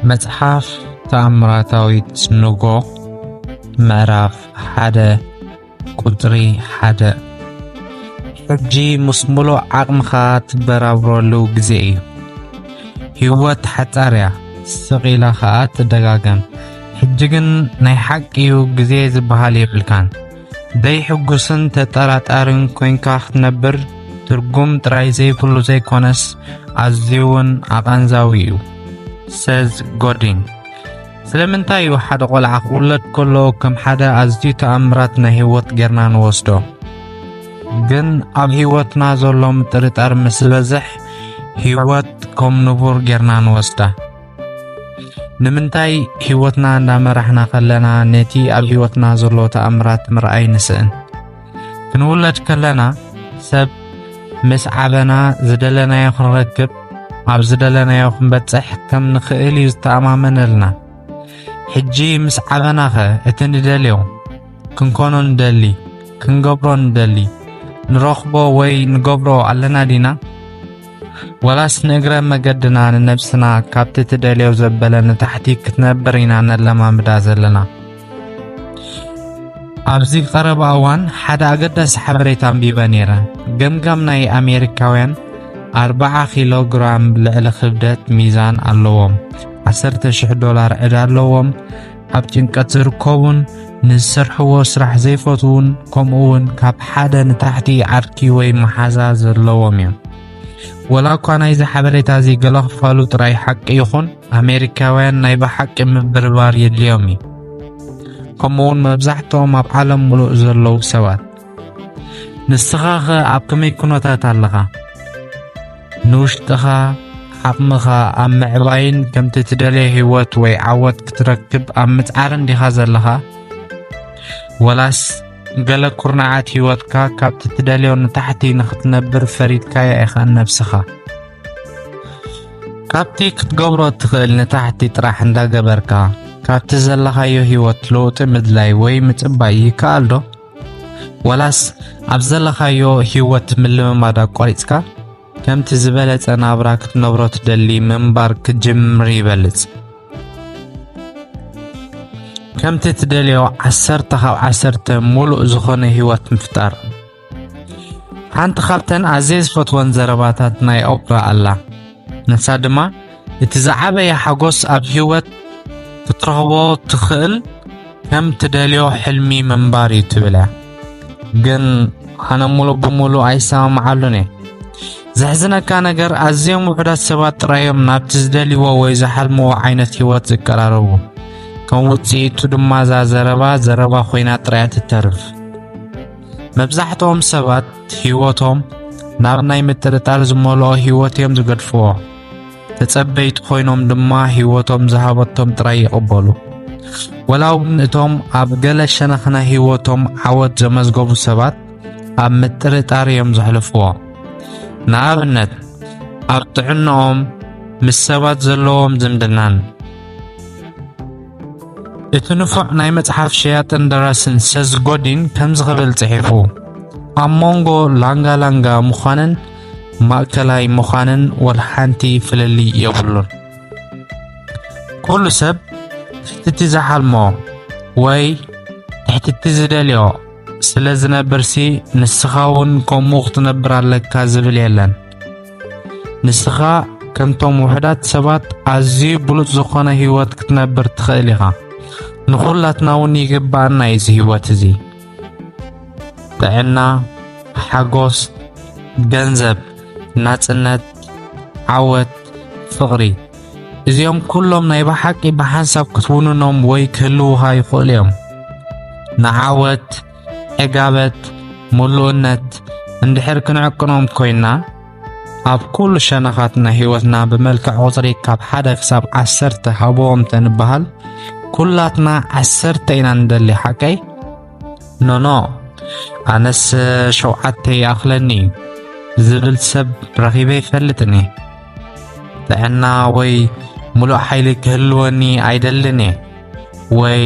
መጽሓፍ ተኣምራታዊት ንጎ ምዕራፍ ሓደ ቁጽሪ ሓደ ሕጂ ምስ ምሉእ ዓቕምኻ ትበራብረሉ ግዜ እዩ። ህይወት ሓጻር እያ፣ ስቕ ኢላ ኸኣ ትደጋገም። ሕጂ ግን ናይ ሓቂ እዩ፣ ግዜ ዝበሃል የብልካን። ደይሕጉስን ተጠራጣርን ኮንካ ክትነብር ትርጉም ጥራይ ዘይብሉ ዘይኮነስ ኣዝዩ እውን ኣቓንዛዊ እዩ። ሰዝ ጎዲን ስለምንታይ እዩ ሓደ ቆልዓ ክውለድ ከሎ ከም ሓደ ኣዝዩ ተኣምራት ናይ ህይወት ጌርና ንወስዶ? ግን ኣብ ህይወትና ዘሎ ምጥርጣር ምስ ዝበዝሕ ህይወት ከም ንቡር ጌርና ንወስዳ። ንምንታይ ህይወትና እናመራሕና ከለና ነቲ ኣብ ህይወትና ዘሎ ተኣምራት ምርኣይ ንስእን? ክንውለድ ከለና ሰብ ምስ ዓበና ዝደለናዮ ክንረክብ ኣብ ዝደለናዮ ክንበጽሕ ከም ንኽእል እዩ ዝተኣማመነልና። ሕጂ ምስ ዓበናኸ እቲ ንደልዮ ክንኮኖ ንደሊ ክንገብሮ ንደሊ ንረኽቦ ወይ ንገብሮ ኣለና ዲና? ወላስ ንእግረ መገድና ንነብስና ካብቲ ትደልዮ ዘበለ ንታሕቲ ክትነብር ኢና ነለማምዳ ዘለና። ኣብዚ ቀረባ እዋን ሓደ ኣገዳሲ ሓበሬታ ኣንቢበ ነይረ። ገምጋም ናይ ኣሜሪካውያን 40 ኪሎ ግራም ልዕሊ ክብደት ሚዛን ኣለዎም፣ 10,000 ዶላር ዕዳ ኣለዎም፣ ኣብ ጭንቀት ዝርከቡን ንዝሰርሕዎ ስራሕ ዘይፈትዉን ከምኡ እውን ካብ ሓደ ንታሕቲ ዓርኪ ወይ መሓዛ ዘለዎም እዮም ወላ እኳ ናይዚ ሓበሬታ እዚ ገለ ክፋሉ ጥራይ ሓቂ ይኹን ኣሜሪካውያን ናይ ብሓቂ ምብርባር የድልዮም እዩ ከምኡውን መብዛሕትኦም ኣብ ዓለም ምሉእ ዘለዉ ሰባት ንስኻኸ ኣብ ከመይ ኩነታት ኣለኻ? ንውሽጥኻ ዓቕምኻ ኣብ ምዕባይን ከምቲ ትደልየ ህይወት ወይ ዓወት ክትረክብ ኣብ ምጽዓርን ዲኻ ዘለኻ? ወላስ ገለ ኩርናዓት ህይወትካ ካብቲ ትደልዮ ንታሕቲ ንኽትነብር ፈሪድካያ ኢኻ ነብስኻ? ካብቲ ክትገብሮ እትኽእል ንታሕቲ ጥራሕ እንዳገበርካ ካብቲ ዘለኻዮ ህይወት ለውጢ ምድላይ ወይ ምጽባይ ይከኣልዶ? ወላስ ኣብ ዘለኻዮ ህይወት ምልምማድ ኣቋሪጽካ ከምቲ ዝበለጸ ናብራ ክትነብሮ ትደሊ ምንባር ክትጅምር ይበልጽ። ከምቲ ትደልዮ ዓሰርተ ካብ ዓሰርተ ሙሉእ ዝኾነ ህይወት ምፍጣር። ሓንቲ ካብተን ኣዝየ ዝፈትወን ዘረባታት ናይ ኦፕራ ኣላ። ንሳ ድማ እቲ ዝዓበየ ሓጎስ ኣብ ህይወት ክትረኽቦ ትኽእል ከም ትደልዮ ሕልሚ ምንባር እዩ ትብል እያ ግን ኣነ ሙሉእ ብሙሉእ ኣይሰማምዓሉን እየ ዘሕዝነካ ነገር ኣዝዮም ውሑዳት ሰባት ጥራዮም ናብቲ ዝደልይዎ ወይ ዝሓልምዎ ዓይነት ህይወት ዝቀራረቡ ከም ውፅኢቱ ድማ እዛ ዘረባ ዘረባ ኮይና ጥራያ ትተርፍ መብዛሕትኦም ሰባት ህይወቶም ናብ ናይ ምጥርጣር ዝመልኦ ህይወት እዮም ዝገድፍዎ። ተጸበይቲ ኮይኖም ድማ ህይወቶም ዝሃበቶም ጥራይ ይቕበሉ። ወላ እውን እቶም ኣብ ገለ ሸነኽ ናይ ህይወቶም ዓወት ዘመዝገቡ ሰባት ኣብ ምጥርጣር እዮም ዘሕልፍዎ። ንኣብነት ኣብ ጥዕናኦም፣ ምስ ሰባት ዘለዎም ዝምድናን እቲ ንፉዕ ናይ መጽሓፍ ሸያጥን ደራስን ሰዝ ጎዲን ከምዚ ክብል ጽሒፉ፣ ኣብ መንጎ ላንጋ ላንጋ ምዃንን ማእከላይ ምዃንን ወልሓንቲ ፍልልይ የብሉን። ኩሉ ሰብ ትሕቲቲ ዝሓልሞ ወይ ትሕቲቲ ዝደልዮ ስለ ዝነብርሲ ንስኻ እውን ከምኡ ክትነብር ኣለካ ዝብል የለን። ንስኻ ከምቶም ውሑዳት ሰባት ኣዝዩ ብሉጽ ዝኾነ ህይወት ክትነብር ትኽእል ኢኻ። ንኹላትና እውን ይግባኣና እዩ እዚ ህይወት እዚ። ጥዕና፣ ሓጎስ፣ ገንዘብ፣ ናጽነት፣ ዓወት፣ ፍቕሪ እዚኦም ኩሎም ናይ ብሓቂ ብሓንሳብ ክትውንኖም ወይ ክህልውኻ ይኽእሉ እዮም። ንዓወት ዕጋበት፣ ምሉእነት እንድሕር ክንዕቅኖም ኮይና ኣብ ኩሉ ሸነኻት ናይ ህይወትና ብመልክዕ ቁጽሪ ካብ ሓደ ክሳብ ዓሰርተ ሃብዎም ተንበሃል ኩላትና ዓሰርተ ኢና ንደሊ ሓቀይ ኖኖ ኣነስ ሸውዓተ ይኣኽለኒ ዝብል ሰብ ረኺበ ይፈልጥኒ ጥዕና ወይ ምሉእ ሓይሊ ክህልወኒ ኣይደልን እየ ወይ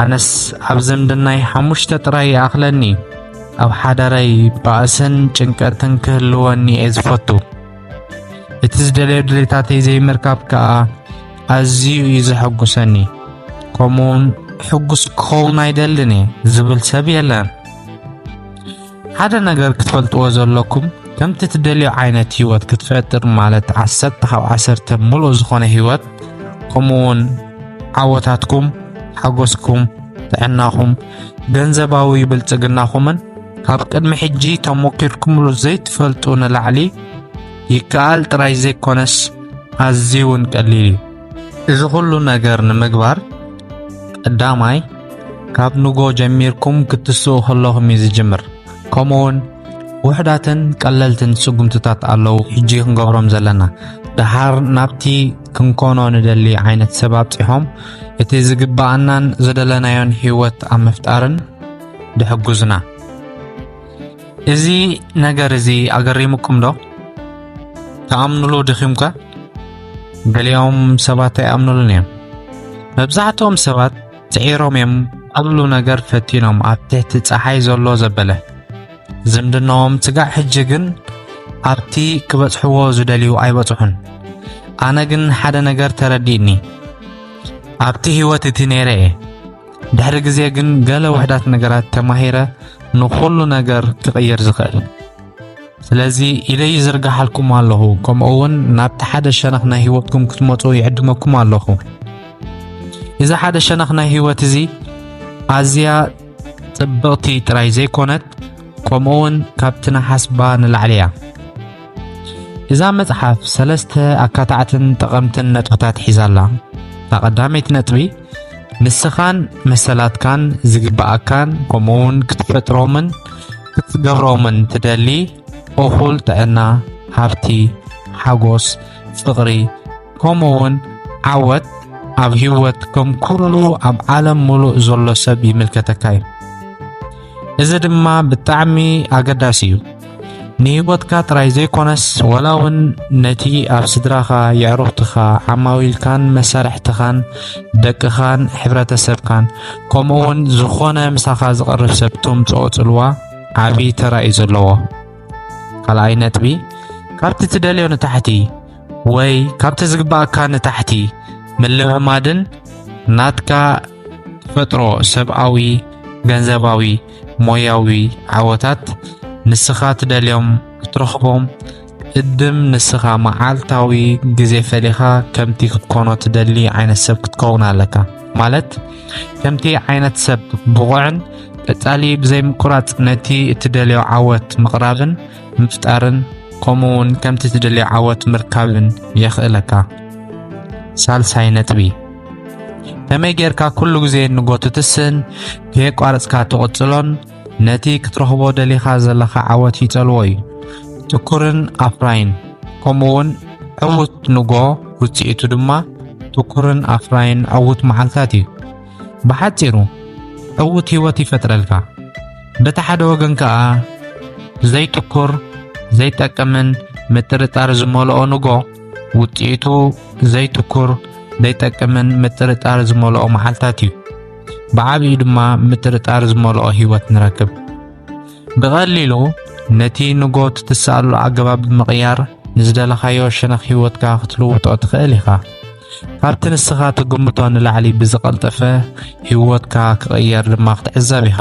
ኣነስ ኣብ ዝምድናይ ሓሙሽተ ጥራይ ይኣኽለኒ ኣብ ሓዳረይ ባእስን ጭንቀትን ክህልወኒ እየ ዝፈቱ እቲ ዝደለዮ ድሌታተይ ዘይምርካብ ከዓ ኣዝዩ እዩ ዘሐጉሰኒ ከምኡውን ሕጉስ ክኸውን ኣይደልን እየ ዝብል ሰብ የለን ሓደ ነገር ክትፈልጥዎ ዘለኩም ከምቲ ትደልዮ ዓይነት ህይወት ክትፈጥር ማለት ዓሰርተ ካብ ዓሰርተ ምሉእ ዝኾነ ህይወት ከምኡውን ዓወታትኩም፣ ሓጎስኩም፣ ጥዕናኹም፣ ገንዘባዊ ብልጽግናኹምን ካብ ቅድሚ ሕጂ ተሞኪርኩምሉ ዘይትፈልጡ ንላዕሊ ይከኣል ጥራይ ዘይኮነስ ኣዝዩ እውን ቀሊል እዩ። እዚ ኹሉ ነገር ንምግባር ቀዳማይ ካብ ንጎ ጀሚርኩም ክትስኡ ከለኹም እዩ ዝጅምር። ከምኡውን ውሕዳትን ቀለልትን ስጉምትታት ኣለዉ ሕጂ ክንገብሮም ዘለና ደሓር ናብቲ ክንኮኖ ንደሊ ዓይነት ሰብ ኣብፂሖም እቲ ዝግብኣናን ዝደለናዮን ህይወት ኣብ ምፍጣርን ድሕጉዝና እዚ ነገር እዚ ኣገሪሙኩም ዶ? ትኣምኑሉ ድኺምከ? ገሊኦም ሰባት ኣይኣምኑሉን እዮም። መብዛሕትኦም ሰባት ጽዒሮም እዮም ኵሉ ነገር ፈቲኖም ኣብ ትሕቲ ጸሓይ ዘሎ ዘበለ ዝምድናኦም ስጋዕ ሕጂ ግን ኣብቲ ክበጽሕዎ ዝደልዩ ኣይበጽሑን። ኣነ ግን ሓደ ነገር ተረዲእኒ ኣብቲ ህይወት እቲ ነይረ እየ። ድሕሪ ግዜ ግን ገለ ውሕዳት ነገራት ተማሂረ ንኹሉ ነገር ክቕይር ዝኽእል ስለዚ ኢለ ይዝርግሓልኩም ኣለኹ ከምኡ እውን ናብቲ ሓደ ሸነኽ ናይ ህይወትኩም ክትመፁ ይዕድመኩም ኣለኹ እዚ ሓደ ሸነኽ ናይ ህይወት እዚ ኣዝያ ጽብቕቲ ጥራይ ዘይኮነት ከምኡ እውን ካብቲ ንሓስባ ንላዕሊ እያ እዛ መጽሓፍ ሰለስተ ኣካታዕትን ጠቐምትን ነጥብታት ሒዛላ እታ ቀዳመይቲ ነጥቢ ንስኻን መሰላትካን ዝግብኣካን ከምኡውን ክትፈጥሮምን ክትገብሮምን ትደሊ እኹል ጥዕና፣ ሃብቲ፣ ሓጎስ፣ ፍቕሪ ከምኡውን ዓወት ኣብ ህይወት ከም ኩሉ ኣብ ዓለም ምሉእ ዘሎ ሰብ ይምልከተካ እዩ። እዚ ድማ ብጣዕሚ ኣገዳሲ እዩ ንህይወትካ ጥራይ ዘይኮነስ ወላ እውን ነቲ ኣብ ስድራኻ የዕሩኽትኻ ዓማዊልካን መሳርሕትኻን ደቅኻን ሕብረተሰብካን ከምኡ እውን ዝኾነ ምሳኻ ዝቐርብ ሰብ ተምፅኦ ፅልዋ ዓብዪ ተራ እዩ ዘለዎ ካልኣይ ነጥቢ ካብቲ ትደልዮ ንታሕቲ ወይ ካብቲ ዝግባእካ ንታሕቲ ምልምማድን ናትካ ትፈጥሮ ሰብኣዊ፣ ገንዘባዊ፣ ሞያዊ ዓወታት ንስኻ ትደልዮም ክትረኽቦም እድም ንስኻ መዓልታዊ ግዜ ፈሊኻ ከምቲ ክትኮኖ ትደሊ ዓይነት ሰብ ክትከውን ኣለካ ማለት ከምቲ ዓይነት ሰብ ብቑዕን ቀጻሊ ብዘይምቁራጽ ነቲ እትደልዮ ዓወት ምቕራብን ምፍጣርን ከምኡ እውን ከምቲ እትደልዮ ዓወት ምርካብን የኽእለካ ሳልሳይ ነጥቢ ከመይ ጌርካ ኩሉ ግዜ ንጎትትስን ከየቋረጽካ ትቕጽሎን ነቲ ክትረኽቦ ደሊኻ ዘለኻ ዓወት ይጸልዎ እዩ። ትኩርን ኣፍራይን ከምኡውን ዕዉት ንጎ ውጽኢቱ ድማ ትኩርን ኣፍራይን ዕዉት መዓልታት እዩ። ብሓጺሩ ዕዉት ህይወት ይፈጥረልካ። በቲ ሓደ ወገን ከኣ ዘይትኩር ዘይጠቅምን ምጥርጣር ዝመልኦ ንጎ ውጽኢቱ ዘይትኩር ዘይጠቅምን ምጥርጣር ዝመልኦ መዓልታት እዩ። ብዓብዩ ድማ ምጥርጣር ዝመልኦ ህይወት ንረክብ። ብቐሊሉ ነቲ ንጎት ትስኣሉ ኣገባብ ብምቕያር ንዝደለኻዮ ሸነኽ ህይወትካ ክትልውጦ ትኽእል ኢኻ። ካብቲ ንስኻ ትግምቶ ንላዕሊ ብዝቐልጠፈ ህይወትካ ክቕየር ድማ ክትዕዘብ ኢኻ።